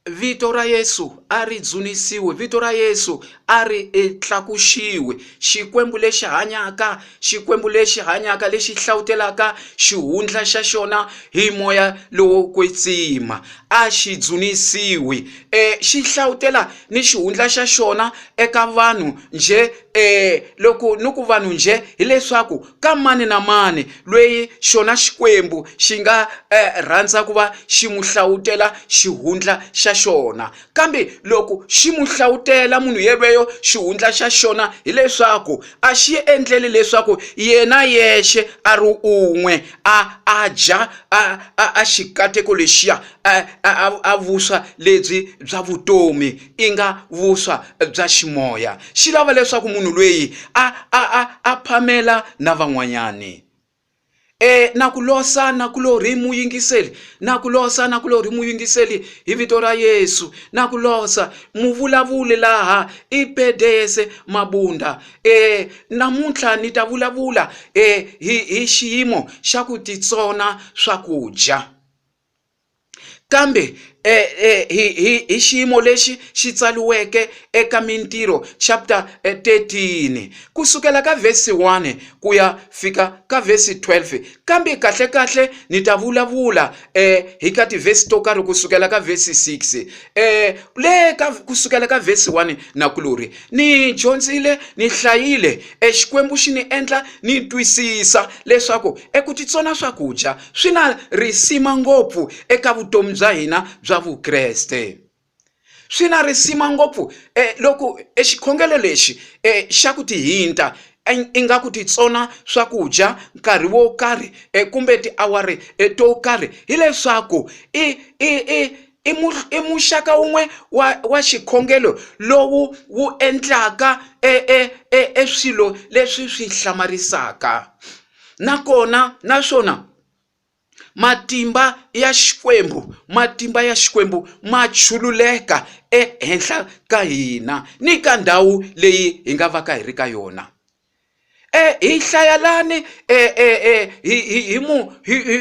vito ra yesu a ri dzunisiwe vito ra yesu a ri e, tlakuxiwe xikwembu lexi hanyaka xikwembu lexi hanyaka lexi hlawutelaka xihundla xa xona hi moya lowo kwetsima a xi dzunisiwi um xi hlawutela ni xihundla xa xona eka vanhu njhe um loko ni ku vanhu njhe hileswaku ka mani na mani loyi xona Xikwembu xi nga eh, rhandza ku va xi n'wi hlawutela xihundla xa xona. Kambe loko xi n'wi hlawutela munhu yelweyo xihundla xa xona, hileswaku a xi endleli leswaku yena yexe a ri un'we a a dya a a, a xikateko lexiya a, a, a vuswa lebyi bya vutomi i nga vuswa bya ximoya xi lava leswaku munhu lweyi a a a a phamela na van'wanyani e na ku losa na ku lori muyingiseli na ku losa na ku lori muyingiseli hi vito ra yesu na ku losa muvulavuli laha i pedese mabunda e namuntlha ni ta vulavula e hi hi xiyimo xa ku titsona swakudya Kambe e, e, hi, hi, hi xiyimo lexi xi tsaliweke eka Mintirho chapter 13 eh, ku sukela ka vhesi 1 ku ya fika ka vhesi 12 kambe kahle kahle ni ta vulavula eh, hi ka tivhesi to karhi ku sukela ka vhesi 6 eh, le ka ku sukela ka vhesi 1 na kulori ni dyondzile ni hlayile eh, xikwembu xi ni endla ni twisisa leswaku eku titsona swakudya swi na risima ngopfu eka vutomi bya hina bya vukreste swi na risima ngopfu eh, loko exikhongelo lexi eh, xa ku tihinta ingaku titsona swakudya nkarhi wo karhi eh, kumbe tiawari eh, to karhi hileswaku i, i, i i muxaka wun'we wa wa xikhongelo lowu wu endlaka e, e, e, e swilo leswi swi hlamarisaka nakona naswona matimba ya xikwembu matimba ya xikwembu ma chululeka ehenhla ka hina ni ka ndhawu leyi hi nga va ka hi ri ka yona e hi hlaya lani e, e, e, hi hi hi mu hi hi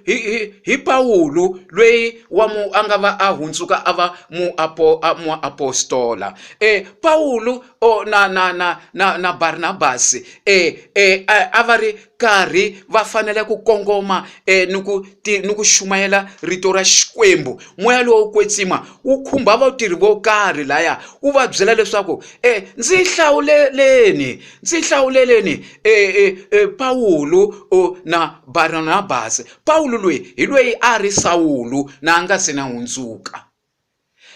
hi hi hi pawulo lweyi wa mu a nga va a hundzuka a va muapo muapostola e pawulo o na na na na na Barnabas eh eh a va ri karhi va fanele ku kongoma eh ni ku ti ni ku xumayela rito ra Xikwembu moya lowo kwetsima wu khumba vatirhi vo karhi laya wu va byela leswaku eh ndzi hlawuleleni ndzi hlawuleleni eh eh, eh Pawulo na Barnabas Pawulo loyi hi loyi a ri Sawulu na a nga se na hundzuka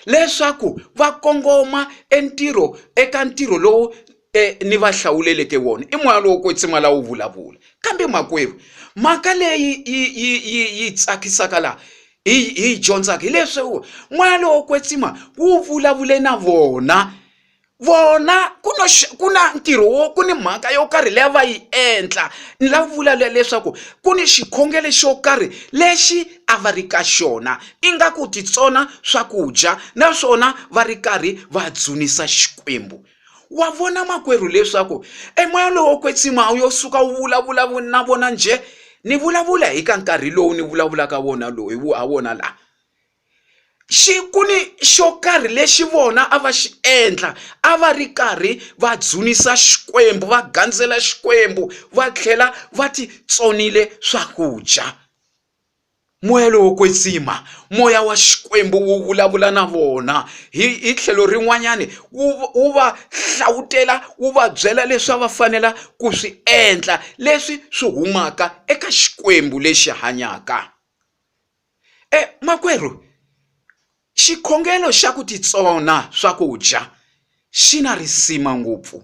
leswaku va kongoma entirho eka ntirho lowu eh, ni va hlawuleleke wona i moya lowo kwetsima lawo vulavula kambe makwerhu mhaka leyi yi, yi, yi, yi tsakisaka laha hi hi dyondzaka hileswi moya lowo kwetsima wu vulavule na vona vona ku na ku na ntirho wo ku ni mhaka yo karhi leyi va yi endla ni la vula leswaku ku ni xikhongelo xo karhi lexi a va ri ka xona ingaku titsona swakudya naswona va ri karhi va dzunisa xikwembu wa vona makwerhu leswaku emoya lowo kwetsima a wu yo suka wu vulavula na vona njhe ni vulavula hi ka nkarhi lowu ni vulavulaka wona lowu hi ha wona laha xi ku ni xo karhi lexi vona a va xi endla a va ri karhi va dzunisa xikwembu va gandzela xikwembu va tlhela va ti tsonile swakudya moya lowo kwetsima moya wa xikwembu wu vulavula na vona hi hi tlhelo rin'wanyani wu wu va hlavutela wu va byela leswi a va fanela ku swi endla leswi swi humaka eka xikwembu lexi hanyaka E makwerhu xikhongelo xa ku titsona swakudya xi na risima ngopfu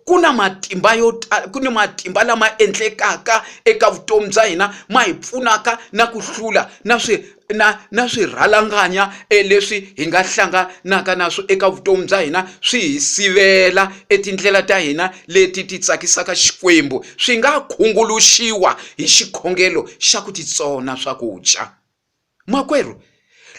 ku na matimba yo tala ku ni matimba lama endlekaka eka vutomi bya hina ma hi pfunaka na ku hlula na swi na na swirhalanganya e leswi hi nga hlanganaka na swo eka vutomi bya hina swi hi sivela etindlela ta hina leti ti tsakisaka Xikwembu swi nga khunguluxiwa hi xikhongelo xa ku titsona swakudya. Makwerhu,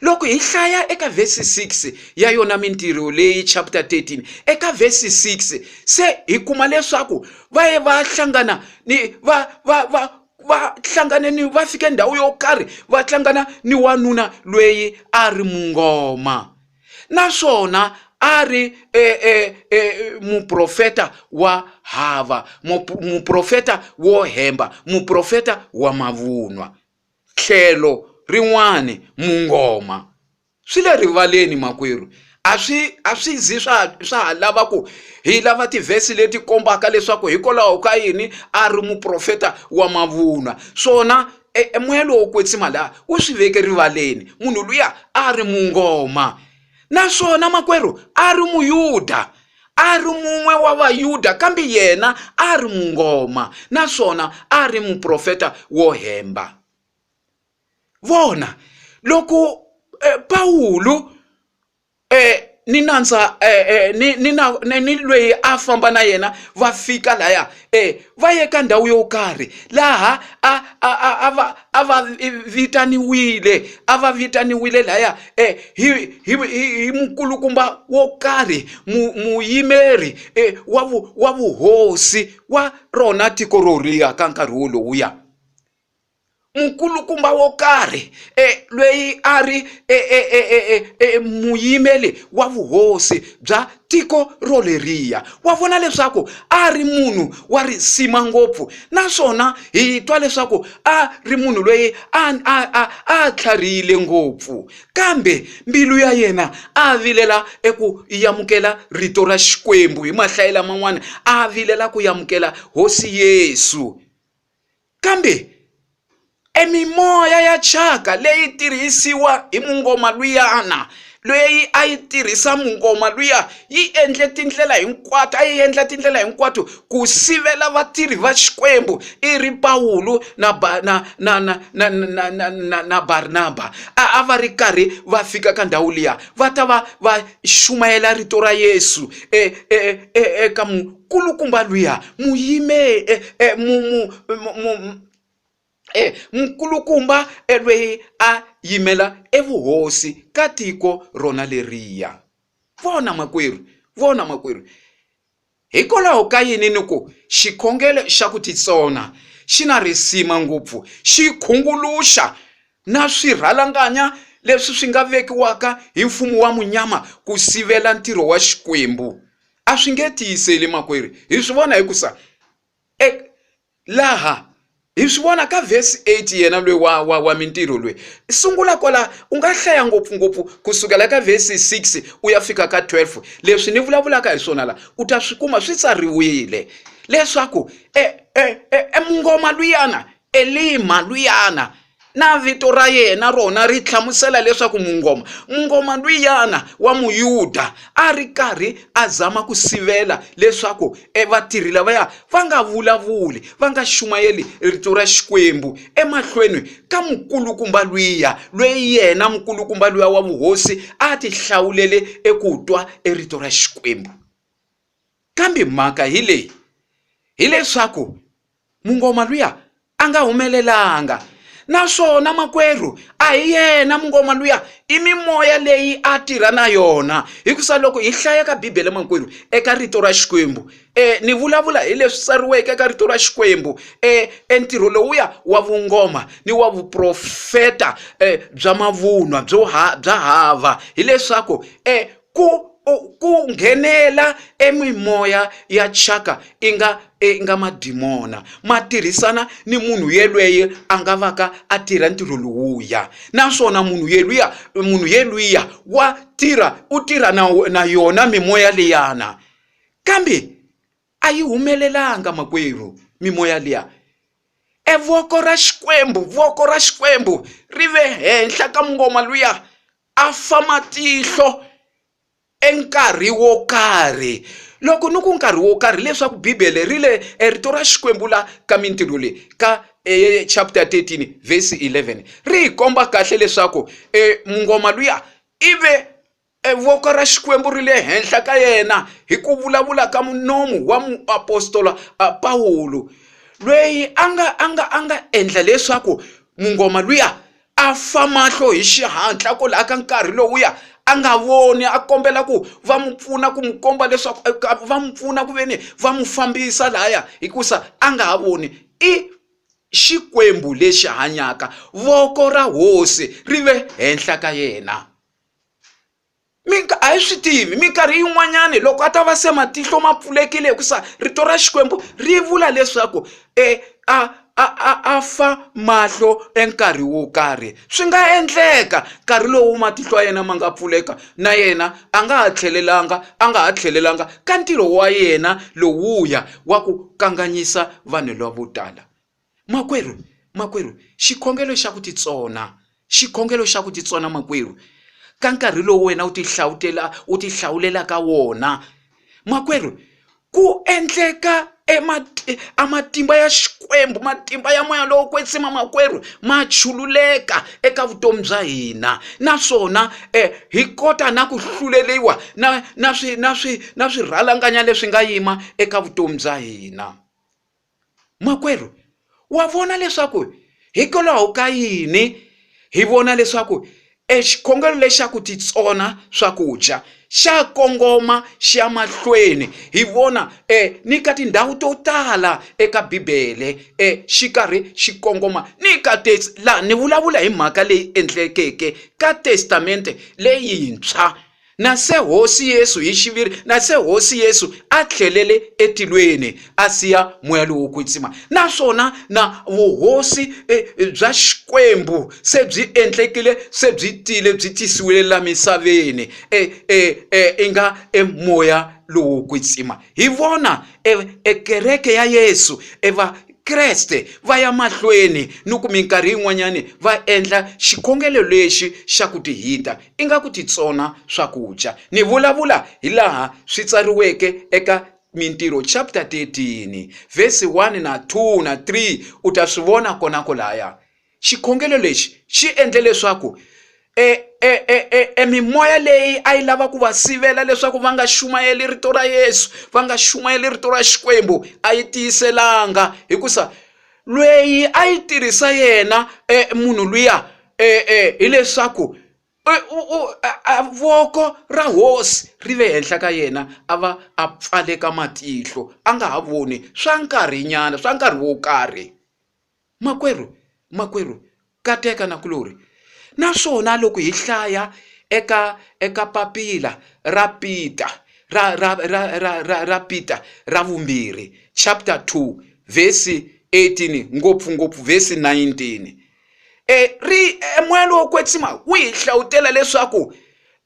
loko hi hlaya eka vhesi 6 ya yona Mintirho leyi chapter 13 eka vhesi 6 se hi kuma leswaku va ye va hlangana ni va va va va hlangane ni va fike ndhawu yo karhi va hlangana ni wanuna lweyi a ri mungoma naswona a ri e, e, e, muprofeta wa hava muprofeta wo hemba muprofeta wa mavunwa tlhelo rin'wani mungoma swi le rivaleni makwerhu a swi a swi zi swa swa ha lava ku hi lava tivhesi leti kombaka leswaku hikwalaho ka yini a ri muprofeta wa mavunwa swona e moya lowo kwetsima laha wu swi veke rivaleni munhu luya a ri mungoma naswona makwerhu a ri muyuda a ri mun'we wa vayuda kambe yena a ri mungoma naswona a ri muprofeta wo hemba vona loko e, pawulo ni nandza ni ni na ni ni lweyi a famba na yena va fika laya um va ye ka ndhawu yo karhi laha a a a a va a va vitaniwile a va vitaniwile laya um hi hi hi hi mukulukumba wo karhi mu muyimeri um wa vu wa vuhosi wa rona tiko roliya ka nkarhi wolowuya nkulukumba wo karhi e, lweyi a ri e, e, e, e, e, e, muyimeli wa vuhosi bya tiko roleriya wa vona leswaku a ri munhu wa risima ngopfu naswona hi twa leswaku a ri munhu lweyi a a a a tlharihile ngopfu kambe mbilu ya yena a vilela eku yamukela rito ra xikwembu hi mahlayi laman'wana a vilela ku yamukela hosi yesu Kambe e mimoya ya thyaka leyi tirhisiwa hi mungoma luyana leyi a yi tirhisa mungoma luya yi endle tindlela hinkwato a yi endla tindlela hinkwato ku sivela vatirhi va Xikwembu i ri Pawulo na ba na na na na na na na na Barnaba a a va ri karhi va fika ka ndhawu liya va ta va va xumayela rito ra Yesu e e e eka Nkulukumba luya mu yime e, e, mu, mu, mu, mu, e, nkulukumba elweyi a yimela evuhosi ka tiko rona leriya. Vona makwerhu, vona makwerhu, hikwalaho ka yini ni ku xikhongelo xa ku titsona xi na risima ngopfu, xi khunguluxa na swirhalanganya leswi swi nga vekiwaka hi mfumo wa munyama ku sivela ntirho wa Xikwembu. a swi nge tiyiseli makwerhu hi swi vona hi ku sa e, laha hi swi vona ka vhesi 8 yena lwe wa, wa, wa mintirho lwe sungula kwala u nga hlaya ngopfungopfu ku sukela ka vhesi 6 u ya fika ka 12 leswi ni vulavulaka hi swona la u ta swi kuma swi tsariwile leswaku e, e, e, e mungoma luyana Elima luyana na vito ra yena rona ri hlamusela leswaku mungoma mungoma luyana wa muyuda a ri karhi a zama ku sivela leswaku e vatirhi lavaya va nga vulavuli va nga xumayeli rito ra xikwembu emahlweni ka mukulukumba luya lweyi yena mukulukumba luya wa vuhosi a ti hlawulele eku twa e rito ra xikwembu kambe mhaka hi leyi hileswaku mungoma luya a nga humelelanga naswona makwerhu a hi yena mungoma luya i mimoya leyi a tirha na yona hikusa loko hi hlaya ka bibele makwerhu eka rito ra xikwembu um ni vulavula hi leswi tsariweke eka rito ra xikwembu um entirho lowuya wa vungoma ni wa vuprofeta um bya mavunwa byo ha bya hava hileswaku um Ku ku nghenela e mimoya ya thyaka inga inga madimona ma tirhisana ni munhu yelweye a nga vaka a tirha ntirho lowuya, naswona munhu yeluya munhu yeluya wa tirha u tirha na na yona mimoya liyana, kambe a yi humelelanga makwerhu mimoya liya. E voko ra Xikwembu voko ra Xikwembu ri ve henhla ka mungoma luya a fa matihlo e nkarhi wo karhi loko ni ku nkarhi wo karhi leswaku bibele ri le e rito ra xikwembu la ka mintirho leyi ka e chapter 13 verse 11 ri hi komba kahle leswaku e mungoma luya i ve e voko ra xikwembu ri le henhla ka yena hi ku vulavula ka munomu wa muapostola pawulo lweyi a nga a nga a nga endla leswaku mungoma luya a fa mahlo hi xihatla ku laha ka nkarhi lowuya a nga voni a kombela ku va n'wi pfuna ku n'wi komba leswaku va n'wi pfuna ku ve ni va n'wi fambisa lahaya hikusa a nga ha voni i xikwembu lexi hanyaka voko ra hosi ri ve henhla ka yena a hi swi tivi minkarhi yin'wanyani loko a ta va se matihlo ma pfulekile hikusa rito ra Xikwembu ri vula leswaku e a a a a fa mahlo e nkarhi wo karhi swi nga endleka nkarhi lowu matihlo ya yena ma nga pfuleka na yena a nga ha tlhelelanga a nga ha tlhelelanga ka ntirho wa yena lowuya wa ku kanganyisa vanhu lavo tala. Makwerhu, makwerhu, xikhongelo xa ku titsona, xikhongelo xa ku titsona, makwerhu, ka nkarhi lowu wena u tihlawutela u tihlawulelaka wona, makwerhu, ku endleka amatimba ya xikwembu matimba ya moya lowo kwetsima makwerhu ma chululeka eka vutomi bya hina naswona eh, hi kota na ku hluleliwa na na swi na swi na swirhalanganya leswi nga yima eka vutomi bya hina Makwerhu, wa vona leswaku hikwalaho ka yini hi vona leswaku e xikhongelo lexa ku titsona swakudya xa kongoma xi ya mahlweni hi vona e ni ka tindhawu to tala eka bibele e xi karhi xi kongoma ni ka laha ni vulavula hi mhaka leyi endlekeke ka testamente leyintshwa Na se Hosi Yesu hi xiviri, na se Hosi Yesu a tlhelele etilweni a siya moya lowo kwetsima, naswona na vuhosi e, e, bya Xikwembu se byi endlekile, se byi tile, byi tisiwile la misaveni, e, e, e, i nga e moya lowo kwetsima. Hi vona e, e kereke ya Yesu, e va Kreste va ya mahlweni ni ku minkarhi yin'wanyani va endla xikhongelo lexi xa ku tihita ingaku ti tsona swakudya. Ni vulavula hi laha swi tsariweke eka Mintirho chapter 13 vhesi 1 na 2 na 3, u ta swi vona kona kolaya. Xikhongelo lexi xi endle leswaku e, e, e, e, e mimoya leyi a yi lava ku va sivela leswaku va nga xumayeli rito ra Yesu, va nga xumayeli rito ra Xikwembu, a yi tiyiselanga hikusa lweyi a yi tirhisa yena eh, munhu luya eh, eh, hileswaku voko ra hosi ri ve henhla ka yena a va a pfaleka matihlo a nga ha voni swa nkarhinyana swa nkarhi wo karhi makwerhu makwerhu Kateka na kulori. Naswona loko hi hlaya eka eka papila ra Peter ra ra ra ra ra, ra Peter ra vumbirhi chapter 2 verse 18 ngopfungopfu verse 19 e ri e moya lowo kwetsima wu hi hlawutela leswaku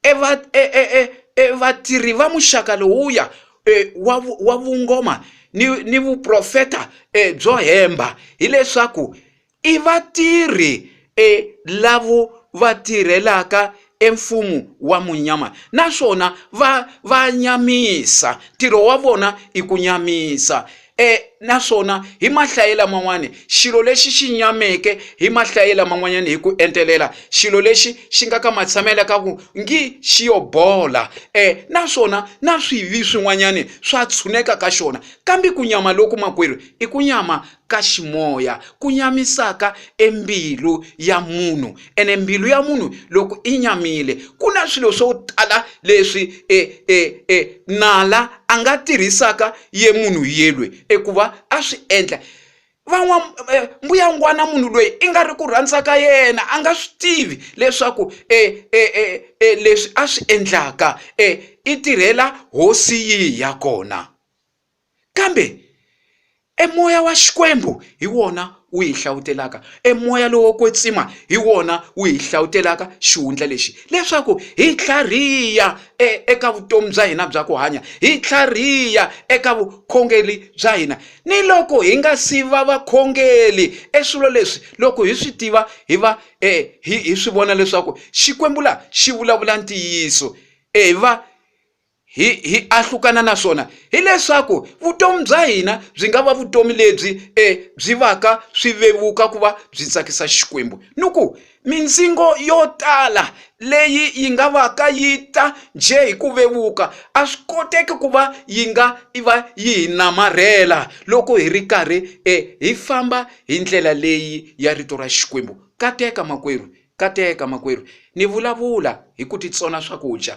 e va e e e, e vatirhi va muxaka lowuya e, wa wa vungoma ni ni vuprofeta e, byo hemba hileswaku I vatirhi e lavo va tirhelaka e mfumo wa munyama naswona va va nyamisa ntirho wa vona i ku nyamisa e naswona hi mahlaye laman'wani xilo lexi xi nyameke hi mahlaye laman'wanyani hi ku entelela xilo lexi xi nga ka matshamela ka ku ngi xi yo bola e naswona na swivi swin'wanyani swa tshuneka ka xona kambe ku nyama loku makwerhu i ku nyama ka ximoya ku nyamisaka e mbilu ya munhu ene mbilu ya munhu loko i nyamile ku na swilo swo tala leswi e, e, e, nala a nga tirhisaka ye munhu yelwe ekuva a swi endla van'wa e, mbuyangwana munhu loyi i nga ri ku rhandza ka yena a nga swi tivi leswaku e, e, e, e, leswi a swi endlaka e, i tirhela hosi yihi ya kona Kambe e moya wa Xikwembu hi wona wu hi hlawutelaka, e moya lowo kwetsima hi wona wu hi hlawutelaka xihundla lexi, leswaku hi tlhariha e, eka vutomi bya hina bya ku hanya, hi tlhariha eka vukhongeri bya hina. Ni loko hi nga si va vakhongeri, e swilo leswi loko hi swi tiva hi va e, hi, hi swi vona leswaku Xikwembu la xi vulavula ntiyiso, e, hi va hi hi ahlukana na swona hileswaku vutomi bya hina byi nga va vutomi lebyi e byi vaka swi vevuka ku va byi tsakisa xikwembu ni ku mindzingo yo tala leyi yi nga va ka yi ta njhe hi ku vevuka a swi koteki ku va yi nga i va yi hi namarhela loko hi ri karhi e hi famba hi ndlela leyi ya rito ra xikwembu kateka makwerhu kateka makwerhu ni vulavula hi ku titsona swakudya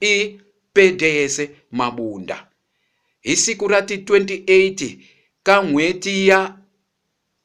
I Pedeyese Mabunda. Hi siku ra ti 28 ka n'hweti ya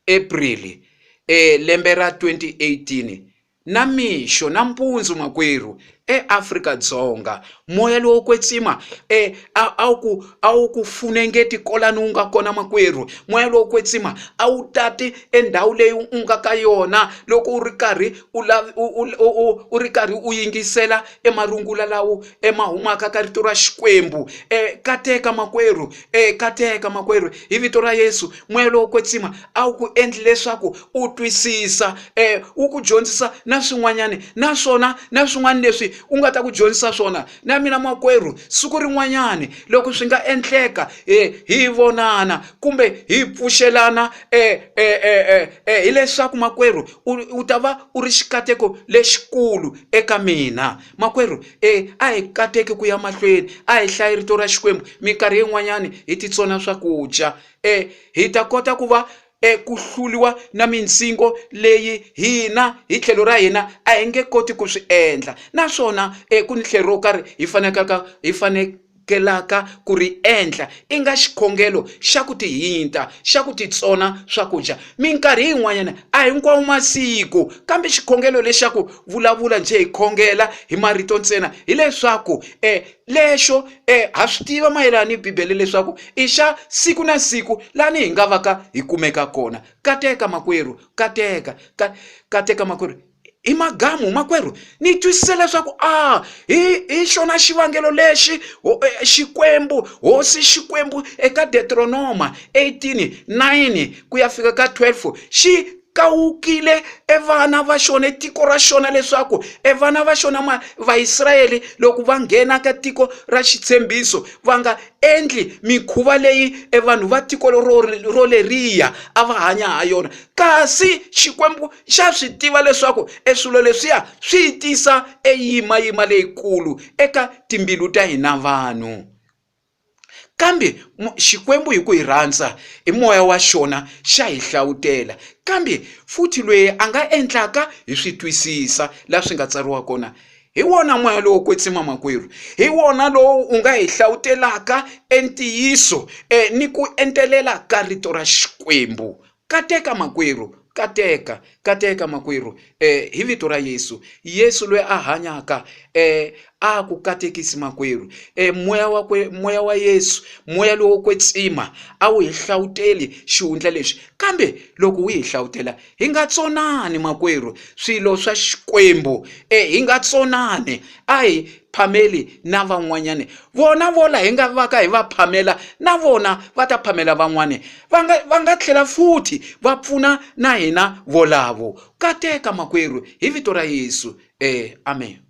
April e lembe ra 2018, namixo nampundzu makwerhu, e Afrika Dzonga, moya lowo kwetsima e a a wu ku a wu ku funengeti kolani wu nga kona makwerhu, moya lowo kwetsima a wu tati e ndhawu leyi u nga ka yona loko u ri karhi u u u u ri karhi u yingisela e marungula lawo e ma humaka ka rito ra xikwembu e kateka makwerhu e kateka makwerhu hi vito ra yesu moya lowo kwetsima a wu ku endli leswaku u twisisa e wu ku dyondzisa na swin'wanyana naswona na swin'wana leswi u nga ta ku dyondzisa swona na mina makwerhu siku rin'wanyana loko swi nga endleka e hi vonana kumbe hi pfuxelana e e e e e hileswaku makwerhu u ta va u ri xikateko lexikulu eka mina makwerhu e a hi kateki ku ya mahlweni a hi hlayi rito ra xikwembu minkarhi yin'wanyani hi titsona swakudya e hi ta kota ku va eku hluliwa na mindzingo leyi hina hi tlhelo ra hina a hi nge koti ku swi endla naswona eku ni tlhelo ro karhi hi fanekaka hi fane amukelaka ku ri endla, i nga xikhongelo xa ku tihinta, xa ku titsona swakudya. Minkarhi yin'wanyana, a hinkwawo masiku, kambe xikhongelo lexa ku vulavula njhe hi khongela hi marito ntsena, hileswaku e, lexo e, ha swi tiva mayelana ni Bibele leswaku i xa siku na siku lani hi nga vaka hi kumeka kona. Kateka, makwerhu, kateka, ka, kateka, makwerhu. hi magamu makwerhu ni twisise leswaku a hi hi xona xivangelo lexi e, xikwembu hosi xikwembu eka detronoma 18 9 ku ya fika ka 12 xi kawukile evana va xona tiko ra xona leswaku evana va xona ma vaisrayele loko va nghena ka tiko ra xitshembiso va nga endli mikhuva leyi evanhu va tiko ro roleriya a va hanya ha yona kasi xikwembu xa swi tiva leswaku e swilo leswiya swi yi tisa e yimayima leyikulu eka timbilu ta hina vanhu kambe xikwembu hi ku hi rhandza hi moya wa xona xa hi hlawutela kambe futhi lweyi a nga endlaka hi swi twisisa la swi nga tsariwa kona hi wona moya lowo kwetsima makwerhu hi wona lowu u nga hi hlawutelaka e ntiyiso ni ku entelela ka rito ra xikwembu Kateka makwerhu, kateka, kateka makwerhu, e, hi Vito ra Yesu. Yesu loyi a hanyaka, e, a ku katekisi makwerhu. E, moya wa kwe, moya wa Yesu, moya lowo kwetsima, a wu hi hlawuteli xihundla lexi. Kambe loko wu hi hlawutela, hi nga tsonani makwerhu, swilo swa Xikwembu, e, hi nga tsonani. A hi, phameli na van'wanyani vona vola hi nga va ka hi va phamela na vona va ta phamela van'wani va nga va nga tlhela futhi va pfuna na hina volavo kateka makwerhu hi vito ra yesu eh amen